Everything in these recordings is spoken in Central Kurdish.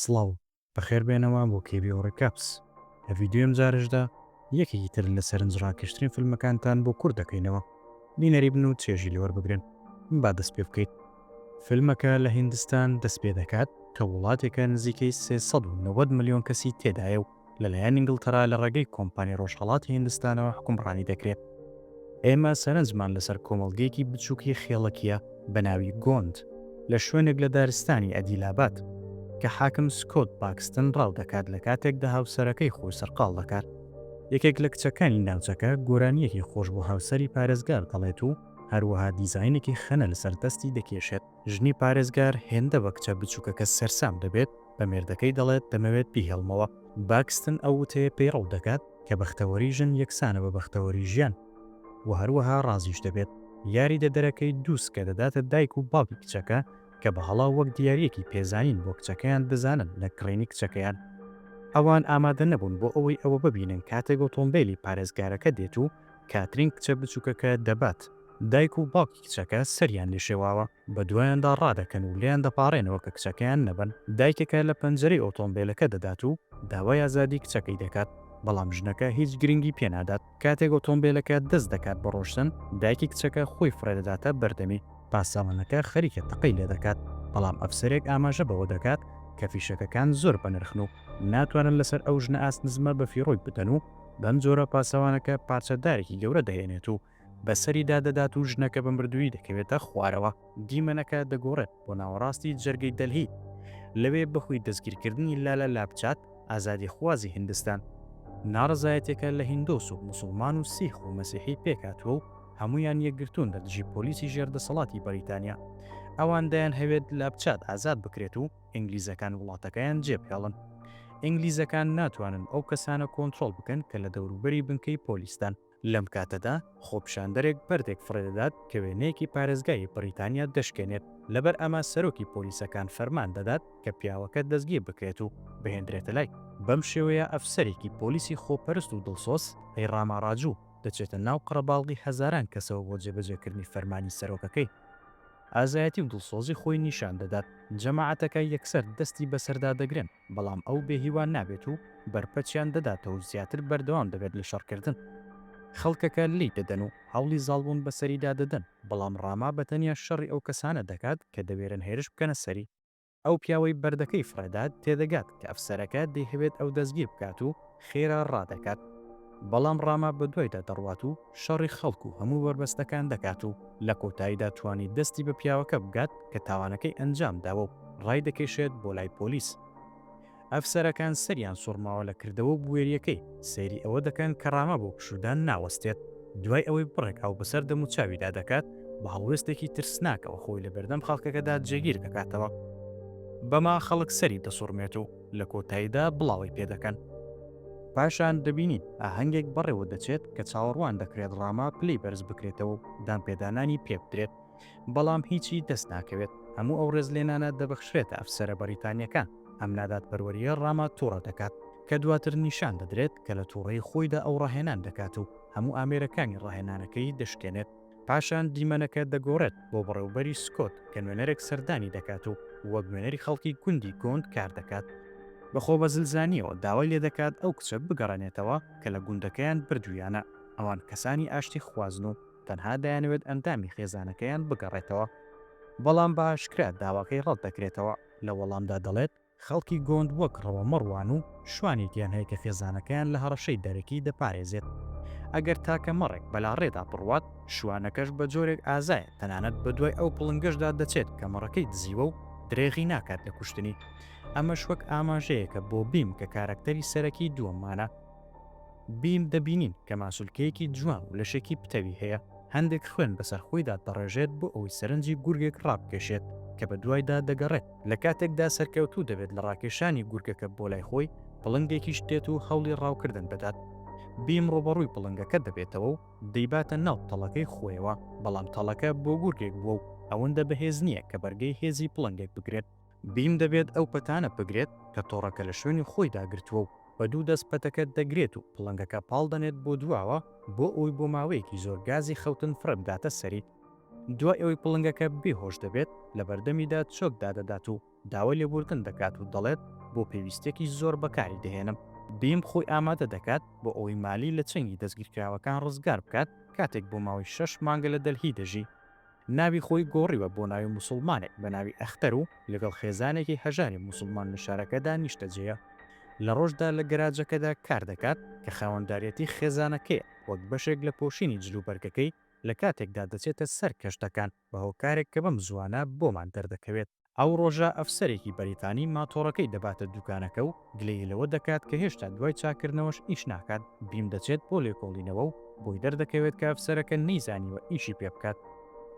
سڵاو. بەخێر بێنەوە بۆ KBO Recaps لە ڤیدیۆی ئەم جارەشدا یەکێکی تر لە سەرنج ڕاکێشترین فیلمەکانتان بۆ کورت دەکەینەوە بینەری بن و چێژی لێ وەربگرن با دەست پێ بکەیت. فیلمەکە لە هیندستان دەست پێ دەکات کە وڵاتێکە نزیکەی سێ سەد و نەوەد ملیۆن کەسی تێدایە و لەلایەن ئینگڵتەرا لە ڕێگەی کۆمپانی ڕۆژهەڵاتی هیندستانەوە حوکمڕانی دەکرێت. ئێمە سەرنجمان لەسەر کۆمەڵگەیەکی بچووکی خێڵەکییە بە ناوی گۆند لە شوێنێک لە دارستانی ئەدیلابات کە حاکم سکۆت باکستن ڕاو دەکات لە کاتێکدا هاوسەرەکەی خۆی سەرقاڵ دەکات. یەکێک لە کچەکانی ناوچەکە گۆرانییەکی خۆش بۆ هاوسەری پارێزگار دەڵێت و هەروەها دیزاینێکی خەنە لەسەر دەستی دەکێشێت. ژنی پارێزگار هێندە بە کچە بچووکەکە سەرسام دەبێت، بە مێردەکەی دەڵێت دەمەوێت بیهێڵمەوە. باکستن ئەو وتەیە پێی ڕەوت دەکات کە بەختەوەری ژن یەکسانە بە بەختەوەری ژیان و هەروەها ڕازیش دەبێت. یاریدەدەرەکەی دوو سکە دەداتە دایک و باوکی کچەکە کە بە هەڵە وەک دیارییەکی پێزانین بۆ کچەکەیان بزانن لە کڕینی کچەکەیان. ئەوان ئامادە نەبوون بۆ ئەوەی ئەوە ببینن کاتێک ئۆتۆمبێلی پارێزگارەکە دێت و کاترین کچە بچووکەکە دەبات. دایک و باوکی کچەکە سەریان لێشێواوە. بەدوایاندا ڕادەکەن و لێیان دەپاڕێنەوە کە کچەکەیان نەبەن، دایکەکە لە پەنجەرەی ئۆتۆمبێلەکە دەدات و داوای ئازادی کچەکەی دەکات، بەڵام ژنەکە هیچ گرنگی پێنادات، کاتێک ئۆتۆمبێلەکە دەست دەکات بە ڕۆشتن، دایکی کچەکە خۆی فڕێدەداتە بەردەمی، پاسەوانەکە خەریکە تەقەی لێدەکات، بەڵام ئەفسەرێک ئاماژە بەوە دەکات کە فیشەکەکان زۆر بەنرخن و ناتوانن لەسەر ئەو ژنە ئاست نزمە بەفیڕۆی بدەن و بەمجۆرە پاسەوانەکە پارچە دارێکی گەورە دەهێنێت و بەسەریدا دەدات و ژنەکە بە مردوویی دەکەوێتە خوارەوە. دیمەنەکە دەگۆڕێت بۆ ناوەڕاستی جەرگەی دەلهی، لەوێ بەهۆی دەستگیرکردنی لالا لاپچات، ئازادیخوازی هیندستان، ناڕەزایەتیەکە لە هیندۆس و موسڵمان و سیخ و مەسیحی پێکهاتووە و هەموویان یەکگرتوون لە دژی پۆلیسی ژێر دەسەڵاتی بەریتانیا. ئەوان دەیانهەوێت لاپچات ئازاد بکرێت و ئینگلیزەکان وڵاتەکەیان جێبهێڵن. ئینگلیزەکان ناتوانن ئەو کەسانە کۆنترۆڵ بکەن کە لە دەوروبەری بنکەی پۆلیسدان. لەم کاتەدا خۆپیشاندەرێک بەردێک فڕێدەدات کە وێنەیەکی پارێزگای بریتانیا دەشکێنێت، لەبەر ئەمە سەرۆکی پۆلیسەکان فەرمان دەدات کە پیاوەکە دەستگیر بکرێت و بهێندرێتە لای. بەم شێوەیە ئەفسەرێکی پۆلیسی خۆپەرست و دڵسۆز، هەی ڕاما ڕاجوو، دەچێتە ناو قەڕەباڵغی هەزاران کەسەوە بۆ جێبەجێکردنی فەرمانی سەرۆکەکەی. ئازایەتی و دڵسۆزی خۆی نیشان دەدات، جەماعەتەکە یەکسەر دەستی بەسەردا دەگرن. بەڵام ئەو بێ هیوا نابێت و بەرپەچیان دەداتەوە و زیاتر بەردەوام دەبێت لە شەڕکردن. خەڵکەکە لێی دەدەن و هەوڵی زاڵبوون بەسەریدا دەدەن، بەڵام ڕاما بەتەنیا شەڕی ئەو کەسانە دەکات کە دەوێرن هێرش بکەنە سەری. ئەو پیاوەی بەردەکەی فڕێدات تێدەگات کە ئەفسەرەکە دەیهەوێت ئەو دەستگیر بکات و خێرا ڕادەکات، بەڵام ڕاما بەدوایدا دەڕوات و شەڕی خەڵک و هەموو بەربەستەکان دەکات و لە کۆتاییدا توانی دەستی بە پیاوەکە بگات کە تاوانەکەی ئەنجام داوە و ڕایدەکێشێت بۆ لای پۆلیس. ئەفسەرەکان سەریان سوڕماوە لە کردەوە و بوێرییەکەی، سەیری ئەوە دەکەن کە ڕامە بۆ پشوودان ناوەستێت، دوای ئەوەی بڕێک ئاو بەسەر دەموچاویدا دەکات، بە هەڵوێستێکی ترسناکەوە خۆی لە بەردەم خەڵکەکەدا جێگیر دەکاتەوە. بەمە خەڵک سەری دەسوڕمێت و. لە کۆتاییدا بڵاوەی پێ دەکەن. پاشان دەبینین ئاهەنگێک بەڕێوە دەچێت کە چاوەڕوان دەکرێت ڕاما پلەی بەرز بکرێتەوە و دانپێدانانی پێ بدرێت، بەڵام هیچی دەست ناکەوێت، هەموو ئەو ڕێزلێنانە دەبەخشرێتە ئەفسەرە بەریتانییەکان، ئەم نادادپەروەرییە ڕاما تووڕە دەکات، کە دواتر نیشان دەدرێت کە لە تووڕەیی خۆیدا ئەو ڕاهێنان دەکات و هەموو ئامێرەکانی ڕاهێنانەکەی دەشکێنێت. پاشان دیمەنەکە دەگۆڕێت بۆ بەڕێوبەری سکۆت کە نوێنەرێک سەردانی دەکات و وەک نوێنەری خەڵکی گوندی گۆند کار دەکات، بە خۆبەزلزانییەوە داوای لێ دەکات ئەو کچە بگەڕێنێتەوە کە لە گوندەکەیان بردوویانە، ئەوان کەسانی ئاشتیخوازن و تەنها دەیانەوێت ئەندامی خێزانەکەیان بگەڕێتەوە، بەڵام بە ئاشکرا داواکەی ڕەت دەکرێتەوە، لە وەڵامدا دەڵێت، خەڵکی گوند وەک ڕەوە مەڕوان و شوانێکیان هەیە کە خێزانەکەیان لە هەڕەشەی دەرەکی دەپارێزێت. ئەگەر تاکە مەڕێک بەلاڕێدا بڕوات، شوانەکەش بە جۆرێک ئازایە تەنانەت بەدوای ئەو پڵنگەشدا دەچێت کە مەڕەکەی دزیوە و درێغی ناکات لە کوشتنی. ئەمەش وەک ئاماژەیەکە بۆ بیم کە کارەکتەری سەرەکی دووەممانە. بیم دەبینین کە ماسولکەیەکی جوان و لەشێکی پتەوی هەیە، هەندێک خوێن بەسەر خۆیدا دەڕێژێت بۆ ئەوەی سەرنجی گورگێک ڕابکێشێت کە بەدوایدا دەگەڕێت. لە کاتێکدا سەرکەوتوو دەبێت لە ڕاکێشانی گورگەکە بۆ لای خۆی، پڵنگێکیش دێت و هەوڵی ڕاوکردن دەدات. بیم ڕووبەڕووی پڵنگەکە دەبێتەوە و دەیباتە ناو تەڵەکەی خۆیەوە، بەڵام تەڵەکە بۆ گورگێک بووە و ئەوەندە بەهێز نییە کە بەرگەی هێزی پڵنگێک بگرێت. بیم دەبێت ئەو پەتانە بگرێت کە تۆڕەکە لە شوێنی خۆیدا گرتووە و بە دوو دەست پەتەکە دەگرێت و پڵنگەکە پاڵ دەنێت بۆ دواوە بۆ ئەوەی بۆ ماوەیەکی زۆر گازی خەوتن فڕێبداتە سەری. دوای ئەوەی پڵنگەکە بێ هۆش دەبێت، لە بەردەمیدا چۆک دادەدات و داوای لێبووردن دەکات و دەڵێت، بۆ پێویستییەکی زۆر بەکاری دەهێنم. بیم خۆی ئامادە دەکات بۆ ئەوەی مالی لە چنگی دەستگیرکراوەکان ڕزگار بکات کاتێک بۆ ماوەی شەش مانگە لە دەلهی دەژی. ناوی خۆی گۆڕیوە بۆ ناوی موسڵمانێک بە ناوی ئەختەر و لەگەڵ خێزانێکی هەژاری موسڵمان لە شارەکەدا نیشتەجێیە. لە ڕۆژدا لە گەراجەکەدا کار دەکات کە خاوەنداریەتی خێزانەکەیە وەک بەشێک لە پۆشینی جلوبەرگەکەی، لە کاتێکدا دەچێتە سەر کەشتەکان بە هۆکارێک کە بەم زووانە بۆمان دەردەکەوێت. ئەو ڕۆژە ئەفسەرێکی بەریتانی ماتۆڕەکەی دەباتە دووکانەکە و گلەیی لەوە دەکات کە هێشتا دوای چاککردنەوەش ئیش ناکات، بیم دەچێت بۆ لێکۆڵینەوە و بۆی دەردەکەوێت کە ئەفسەرەکە نەیزانیوە ئیشی پێ بکات،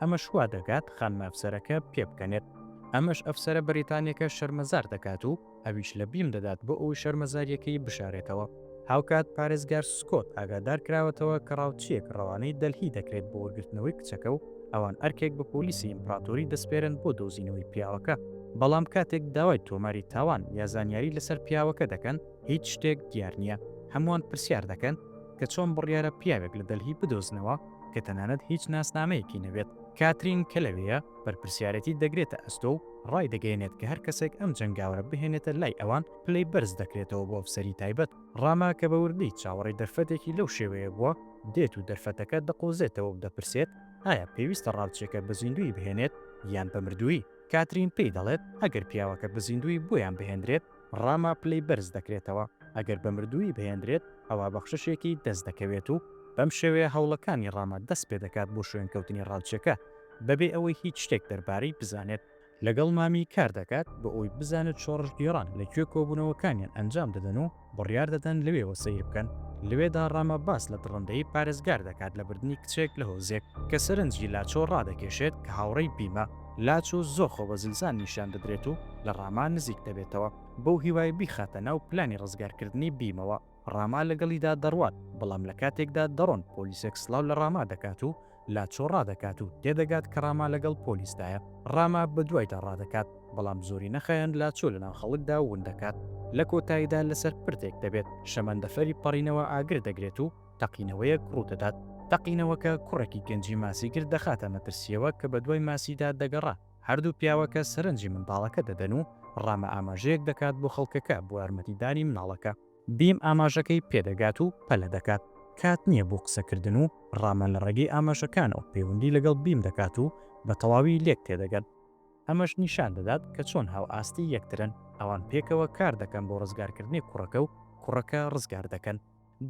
ئەمەش وا دەکات خانمە ئەفسەرەکە پێبکەنێت، ئەمەش ئەفسەرە بەریتانیەکە شەرمەزار دەکات و ئەویش لە بیم دەدات بۆ ئەوەی شەرمەزارییەکەی بشارێتەوە. هاوکات پارێزگار سکۆت ئاگادار کراوەتەوە کە ڕاوچییەک ڕەوانەی دەلهی دەکرێت بۆ وەرگرتنەوەی کچەکە و ئەوان ئەرکێک بە پۆلیسی ئیمپراتۆری دەسپێرن بۆ دۆزینەوەی پیاوەکە، بەڵام کاتێک داوای تۆماری تاوان یا زانیاری لەسەر پیاوەکە دەکەن، هیچ شتێک دیار نییە. هەمووان پرسیار دەکەن کە چۆن بڕیارە پیاوێک لە دەلهی بدۆزنەوە کە تەنانەت هیچ ناسنامەیەکی نەبێت؟ کاترین کە لەوێیە، بەرپرسیارێتیت دەگرێتە ئەستۆ و ڕایدەگەیەنێت کە هەر کەسێک ئەم جەنگاوەرە بهێنێتە لای ئەوان پلەی بەرز دەکرێتەوە بۆ ئەفسەری تایبەت. ڕاما کە بە وردی چاوەڕێی دەرفەتێکی لەو شێوەیە بووە، دێت و دەرفەتەکە دەقۆزێتەوە و دەپرسێت، ئایا پێویستە ڕاوچییەکە بە زیندوویی بهێنێت یان بە مردوویی؟ کاترین پێی دەڵێت، ئەگەر پیاوەکە بە زیندوویی بۆیان بهێندرێت، ڕاما پلەی بەرز دەکرێتەوە، ئەگەر بە مردوویی بهێندرێت ئەوا بەخششێکی دەست دەکەوێت و بەم شێوەیە هەوڵەکانی ڕاما دەست پێ دەکات بۆ شوێنکەوتنی ڕاوچەکە بەبێ ئەوەی هیچ شتێک دەربارەی بزانێت. لەگەڵ مامی کار دەکات بۆ ئەوەی بزانێت شۆڕشگێڕان لە کوێ کۆبوونەوەکانیان ئەنجام دەدەن و بڕیار دەدەن لەوێوە سەیر بکەن. لەوێدا ڕاما باس لە دڕندەیی پارێزگار دەکات لە بردنی کچێک لە هۆزێک کە سەرنجی لاچۆ ڕادەکێشێت کە هاوڕێی بیمە. لاچو زۆر خۆبەزلزان نیشان دەدرێت و لە ڕاما نزیک دەبێتەوە بەو هیوای بیخاتە ناو پلانی ڕزگارکردنی بیمەوە، ڕاما لەگەڵیدا دەڕوات بەڵام لە کاتێکدا دەڕۆن پۆلیسێک سڵاو لە ڕاما دەکات و لاچۆ ڕادەکات و تێدەگات کە ڕاما لەگەڵ پۆلیسدایە، ڕاما بەدوایدا ڕادەکات بەڵام زۆرینە خایەن لاچۆ لەناو خەڵکدا ون دەکات. لە کۆتاییدا لەسەر پردێک دەبێت شەمەندەفەری پەڕینەوە ئاگر دەگرێت و. تەقینەوەیەک ڕوودەدات. تەقینەوەکە کوڕێکی گەنجی ماسیگر دەخاتە مەترسییەوە کە بەدوای ماسیدا دەگەڕا، هەردوو پیاوەکە سەرنجی منداڵەکە دەدەن و ڕامە ئاماژەیەک دەکات بۆ خەڵکەکە بۆ یارمەتیدانی مناڵەکە، بیم ئاماژەکەی پێدەگات و پەلە دەکات، کات نییە بۆ قسەکردن و ڕامە لە ڕێگەی ئاماژەکانەوە پەیوەندی لەگەڵ بیم دەکات و بە تەواوی لێک تێدەگەن، ئەمەش نیشان دەدات کە چۆن هاوئاستی یەکترن، ئەوان پێکەوە کاردەکەن بۆ ڕزگارکردنی کوڕەکە و کوڕەکە ڕزگار دەکەن.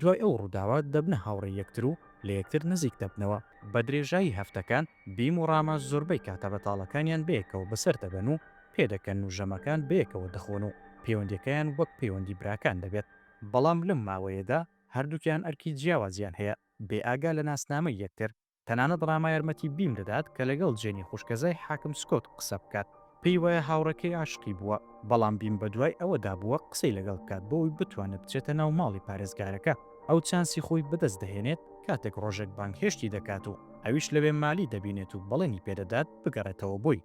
دوای ئەو ڕووداوە دەبنە هاوڕێی یەکتر و لە یەکتر نزیک دەبنەوە. بە درێژایی هەفتەکان، بیم و ڕامە زۆربەی کاتە بەتاڵەکانیان بەیەکەوە بەسەر دەبەن و پێدەکەن و ژەمەکان بەیەکەوە دەخۆن و پەیوەندییەکەیان وەک پەیوەندی براکان دەبێت. بەڵام لەم ماوەیەدا هەردووکیان ئەرکی جیاوازیان هەیە، بێئاگا لە ناسنامەی یەکتر، تەنانەت ڕاما یارمەتی بیم دەدات کە لەگەڵ جێنی خوشکەزای حاکم سکۆت قسە بکات، پێی وایە هاوڕێکەی عاشقی بووە، بەڵام بیم بەدوای ئەوەدا بووە قسەی لەگەڵ بکات بۆوەی بتوانێت بچێتە ناو ماڵی پارێزگارەکە، ئەو چانسی خۆی بەدەست دەهێنێت کاتێک ڕۆژێک بانگهێشتی دەکات و ئەویش لەوێ مالی دەبینێت و بەڵێنی پێدەدات بگەڕێتەوە بۆی.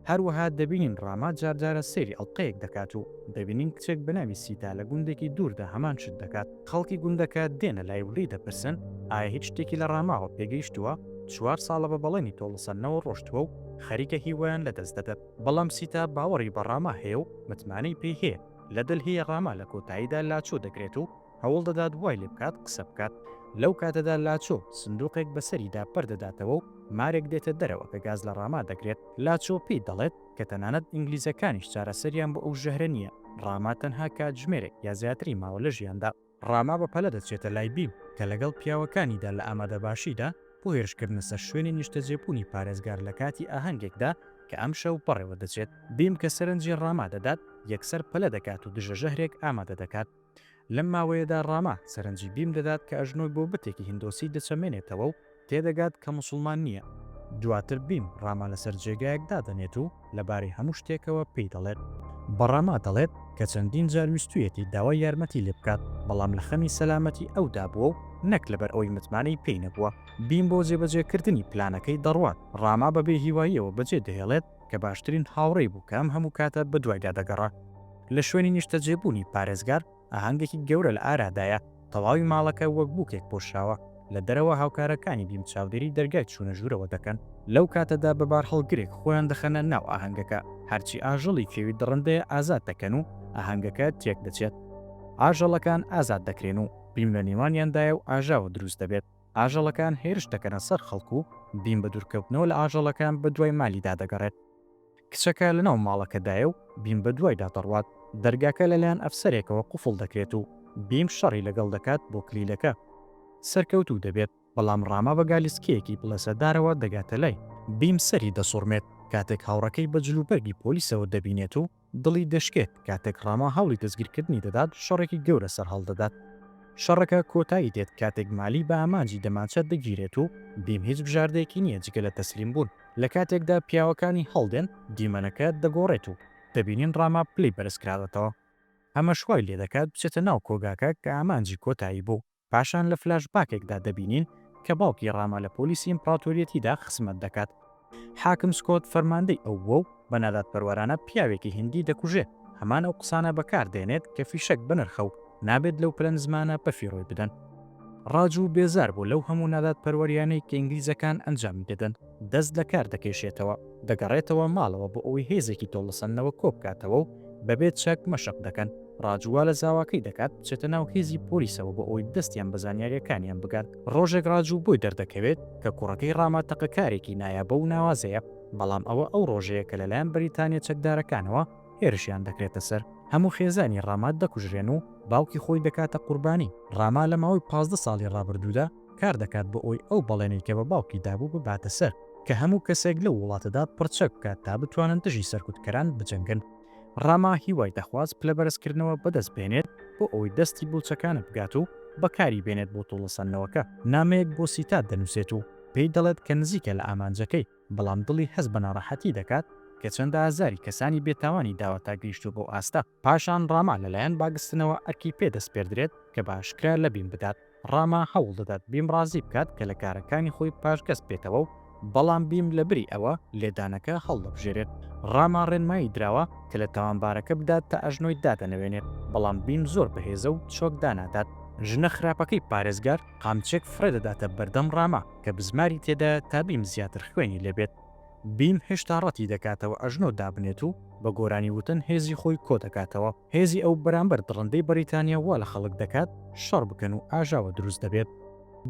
هەروەها دەبینین ڕاما جار جارە سەیری ئەڵقەیەک دەکات و دەبینین کچێک بە ناوی سیتا لە گوندێکی دووردا هەمان شت دەکات، خەڵکی گوندەکە دێنە لای و لێی دەپرسن ئایا هیچ شتێکی لە ڕاماوە پێگەیشتووە، چوار ساڵە بە بەڵێنی تۆڵەسەندنەوە ڕۆشتووە و خەریکە هیوایان لەدەست دەدەت، بەڵام سیتا باوەڕی بە ڕاما هەیە و متمانەی پێی هەیە، لە دەلهی ڕاما لە کۆتاییدا لاچۆ دەکرێت و هەوڵ دەدات وای لێ بکات قسە بکات. لەو کاتەدا لاچۆ سندووقێک بەسەریدا پەر دەداتەوە و مارێک دێتە دەرەوە کە گاز لە ڕاما دەگرێت. لاچۆ پێی دەڵێت کە تەنانەت ئینگلیزەکانیش چارەسەریان بۆ ئەو ژەهرە نییە. ڕاما تەنها کاتژمێرێک یا زیاتری ماوە لە ژیاندا. ڕاما بە پەلە دەچێتە لای بیل کە لەگەڵ پیاوەکانیدا لە ئامادەباشیدا بۆ هێرشکردنە سەر شوێنی نیشتەجێبوونی پارێزگار لە کاتی ئاهەنگێکدا کە ئەمشەو بەڕێوە دەچێت. بیم کە سەرنجی ڕاما دەدات، یەکسەر پەلە دەکات و دژە ژەهرێک ئامادە دەکات. لەم ماوەیەدا ڕاما سەرنجی بیم دەدات کە ئەژنۆی بۆ بتێکی هیندۆسی دەچەمێنێتەوە و تێدەگات کە موسڵمان نییە. دواتر بیم ڕاما لەسەر جێگایەک دادەنێت و لەبارەی هەموو شتێکەوە پێی دەڵێت. بە ڕاما دەڵێت کە چەندین جار ویستوویەتی داوای یارمەتی لێ بکات، بەڵام لە خەمی سەلامەتی ئەودا بووە و نەک لەبەر ئەوەی متمانەی پێی نەبووە. بیم بۆ جێبەجێکردنی پلانەکەی دەڕوات، ڕاما بە بێهیواییەوە بەجێدەهێڵێت، کە باشترین هاوڕێی بوو کە ئەم هەموو کاتە بەدوایدا دەگەڕا. لە شوێنی نیشتەجێبوونی پارێزگار، ئاهەنگێکی گەورە لە ئارادایە، تەواوی ماڵەکە وەک بووکێک پۆشراوە، لە دەرەوە هاوکارەکانی بیم چاودێری دەرگای چوونە ژوورەوە دەکەن، لەو کاتەدا بە بارهەڵگرێک خۆیان دەخەنە ناو ئاهەنگەکە، هەرچی ئاژەڵی کێوی دڕندەیە ئازاد دەکەن و ئاهەنگەکە تێکدەچێت. ئاژەڵەکان ئازاد دەکرێن و بیم لە نێوانیاندایە و ئاژاوە دروست دەبێت. ئاژەڵەکان هێرش دەکەنە سەر خەڵک و بیم بە دوورکەوتنەوە لە ئاژەڵەکان بە دوای مالیدا دەگەڕێت. کچەکە لەناو ماڵەکەدایە و بیم بە دوایدا دەڕوات. دەرگاکە لەلایەن ئەفسەرێکەوە قوفڵ دەکرێت و بیم شەڕی لەگەڵ دەکات بۆ کلیلەکە. سەرکەوتوو دەبێت، بەڵام ڕاما بە گالیسکەیەکی بڵێسەدارەوە دەگاتە لای. بیم سەری دەسوڕمێت کاتێک هاوڕێکەی بە جلوبەرگی پۆلیسەوە دەبینێت و دڵی دەشکێت کاتێک ڕاما هەوڵی دەستگیرکردنی دەدات و شەڕێکی گەورە سەرهەڵدەدات. شەڕەکە کۆتایی دێت کاتێک مالی بە ئامانجی دەمانچە دەگیرێت و بیم هیچ بژاردەیەکی نییە جگە لە تەسلیمبوون. لە کاتێکدا پیاوەکانی هەڵدێن، دیمەنەکە دەگۆڕێت و دەبینین ڕاما پلەی بەرزکراوەتەوە. ئەمەش وای لێدەکات بچێتە ناو کۆگاکە کە ئامانجی کۆتایی بوو. پاشان لە فلاش باکێکدا دەبینین کە باوکی ڕاما لە پۆلیسی ئیمپڕاتۆریەتیدا خزمەت دەکات. حاکم سکۆت فەرماندەی ئەو بووە و بە نادادپەروەرانە پیاوێکی هیندی دەکوژێت، هەمان ئەو قسانە بەکار دێنێت کە فیشەک بەنرخە و نابێت لەو پلەنزمانە بەفیڕۆی بدەن. ڕاجو بێزار بوو لەو هەموو نادادپەروەریانەی کە ئینگلیزەکان ئەنجامی دەدەن. دەست لە کار دەکێشێتەوە، دەگەڕێتەوە ماڵەوە بۆ ئەوەی هێزێکی تۆڵەسەندنەوە کۆبکاتەوە و بەبێ چەک مەشق دەکەن، ڕاج وا لە زاواکەی دەکات بچێتە ناو هێزی پۆلیسەوە بۆ ئەوەی دەستیان بە زانیارییەکانیان بگات، ڕۆژێک ڕاج بۆی دەردەکەوێت کە کوڕەکەی ڕاما تەقەکارێکی نایابە و ناوازەیە، بەڵام ئەوە ئەو ڕۆژەیە کە لەلایەن بەریتانییە چەکدارەکانەوە هێرشیان دەکرێتە سەر، هەموو خێزانی ڕاما دەکوژرێن و باوکی خۆی دەکاتە قوربانی، ڕاما لە ماوەی پازدە ساڵی ڕابردوودا، کار دەکات بۆ ئەوەی ئەو بەڵێنەی کە بە باوکی دابوو بباتە سەر کە هەموو کەسێک لەو وڵاتەدا پڕچەک بکات تا بتوانن دژی سەرکوتکەران بجەنگن. ڕاما هیوای دەخواست پلەبەرزکردنەوە بەدەست بهێنێت بۆ ئەوەی دەستی بەو چەکانە بگات و بەکاری بێنێت بۆ تۆڵەسەندنەوەکە. نامەیەک بۆ سیتا دەنووسێت و پێی دەڵێت کە نزیکە لە ئامانجەکەی، بەڵام دڵی هەست بە ناڕەحەتی دەکات کە چەندە ئازاری کەسانی بێتاوانی داوە تا گەیشتووە بەو ئاستە. پاشان ڕاما لەلایەن باگستنەوە ئەرکی پێ دەسپێردرێت کە بە ئاشکرا لە بیم بدات، ڕاما هەوڵ دەدات بیم ڕازی بکات کە لە کارەکانی خۆی پاشگەز بێتەوە و بەڵام بیم لە بری ئەوە لێدانەکە هەڵدەبژێرێت، ڕاما ڕێنمایی دراوە کە لە تاوانبارەکە بدات تا ئەژنۆی دادەنەوێنێت، بەڵام بیم زۆر بەهێزە و چۆک دانادات. ژنە خراپەکەی پارێزگار قامچێک فڕێ دەداتە بەردەم ڕاما کە بزماری تێدایە تا بیم زیاتر خوێنی لێ بێت، بیم هێشتا ڕەتی دەکاتەوە ئەژنۆ دابنێت و بە گۆرانی وتن هێزی خۆی کۆ دەکاتەوە، هێزی ئەو بەرامبەر دڕندەی بەریتانیا وا لە خەڵک دەکات شەڕ بکەن و ئاژاوە دروست دەبێت.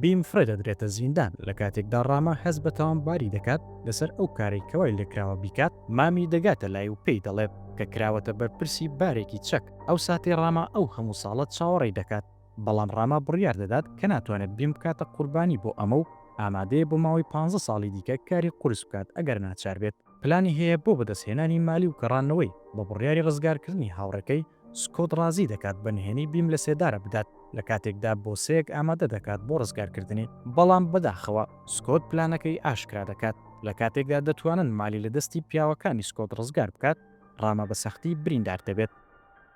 بیم فرێ دەدرێتە زیندان لە کاتێکدا ڕاما هەست بە تاوانباری دەکات لەسەر ئەو کارەی کە وای لێکراوە بیکات، مامی دەگاتە لای و پێی دەڵێت کە کراوەتە بەرپرسی بارێکی چەک، ئەو ساتەی ڕاما ئەو هەموو ساڵە چاوەڕێی دەکات، بەڵام ڕاما بڕیار دەدات کە ناتوانێت بیم بکاتە قوربانی بۆ ئەمە و ئامادەیە بۆ ماوەی پانزە ساڵی دیکە کاری قورس بکات ئەگەر ناچار بێت. پلانی هەیە بۆ بەدەستهێنانی مالی و گەڕانەوەی، بە بڕیاری ڕزگارکردنی هاوڕێکەی، سکۆت ڕازی دەکات بە نهێنی بیم لەسێدارە بدات، لە کاتێکدا بۆسەیەک ئامادە دەکات بۆ ڕزگارکردنی. بەڵام بەداخەوە سکۆت پلانەکەی ئاشکرا دەکات، لە کاتێکدا دەتوانن مالی لە دەستی پیاوەکانی سکۆت ڕزگار بکات، ڕاما بە سەختی بریندار دەبێت.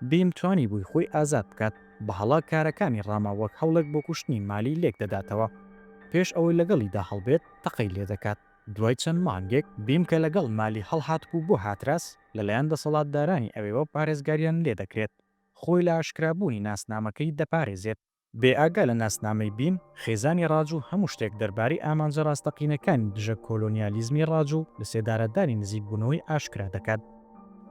بیم توانیبووی خۆی ئازاد بکات، بەهەڵە کارەکانی ڕاما وەک هەوڵێک بۆ کوشتنی مالی لێک دەداتەوە. پێش ئەوەی لەگەڵیدا هەڵبێت، تەقەی لێ دەکات. دوای چەند مانگێک، بیم کە لەگەڵ مالی هەڵهاتبوو بۆ هاتراس، لەلایەن دەسەڵاتدارانی ئەوێوە پارێزگاریان لێ دەکرێت. خۆی لە ئاشکرابوونی ناسنامەکەی دەپارێزێت. بێ ئاگا لە ناسنامەی بیم، خێزانی ڕاج و هەموو شتێک دەربارەی ئامانجە ڕاستەقینەکانی دژە کۆلۆنیالیزمی ڕاج و لەسێدارەدانی نزیکبوونەوەی ئاشکرا دەکات.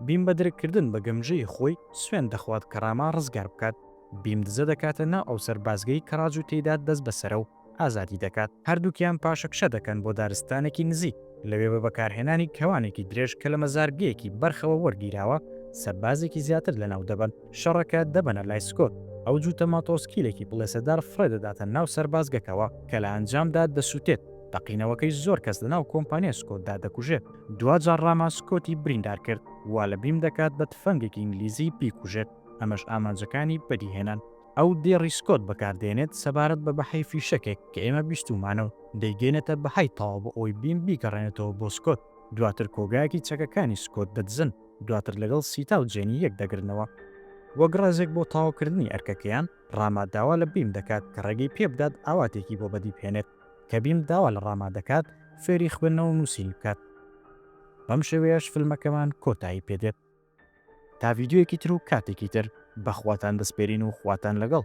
بیم بە درککردن بە گەمژەیی خۆی، سوێند دەخوات کە ڕاما ڕزگار بکات. بیم دزە دەکاتە ناو ئەو سەربازگەی کە ڕاج و تێیدا دەستبەسەرە و ئازادی دەکات، هەردووکیان پاشەکشە دەکەن بۆ دارستانێکی نزیک، لەوێ بە بەکارهێنانی کەوانێکی درێژ کە لە مەزارگەیەکی بەرخەوە وەرگیراوە، سەربازێکی زیاتر لەناو دەبەن. شەڕەکە دەبەنە لای سکۆت، ئەو جووتە ماتۆڕسکیلێکی بڵێسەدار فڕێ دەداتە ناو سەربازگەکەوە، کە لە ئەنجامدا دەسووتێت، تەقینەوەکەی زۆر کەس لەناو کۆمپانیای سکۆتدا دەکوژێت. دواجار ڕاما سکۆتی بریندار کرد، وا لە بیم دەکات بە تفەنگێکی ئینگلیزی بیکوژێت، ئەمەش ئامانجەکانی بەدیهێنان. ئەو دێڕی سکۆت بەکاردێنێت سەبارەت بە بەهای فیشەکێک کە ئێمە بیستوومانە و دەیگەێنێتە بەهای تەواو بۆ ئەوەی بیم بیگەڕێنێتەوە بۆ سکۆت. دواتر کۆگایەکی چەکەکانی سکۆت دەدزن، دواتر لەگەڵ سیتا و جێنی یەک دەگرنەوە. وەک ڕێزێک بۆ تەواوکردنی ئەرکەکەیان، ڕاما داوا لە بیم دەکات کە ڕێگەی پێ بدات ئاواتێکی بۆ بەدی بهێنێت. کە بیم داوا لە ڕاما دەکات فێری خوێندنەوە و نووسینی بکات. بەم شێوەیەش فیلمەکەمان کۆتایی پێ دێت. تا ڤیدیۆیەکی تر و کاتێکی تر بەخواتان دەسپێرین و خواتان لەگەڵ.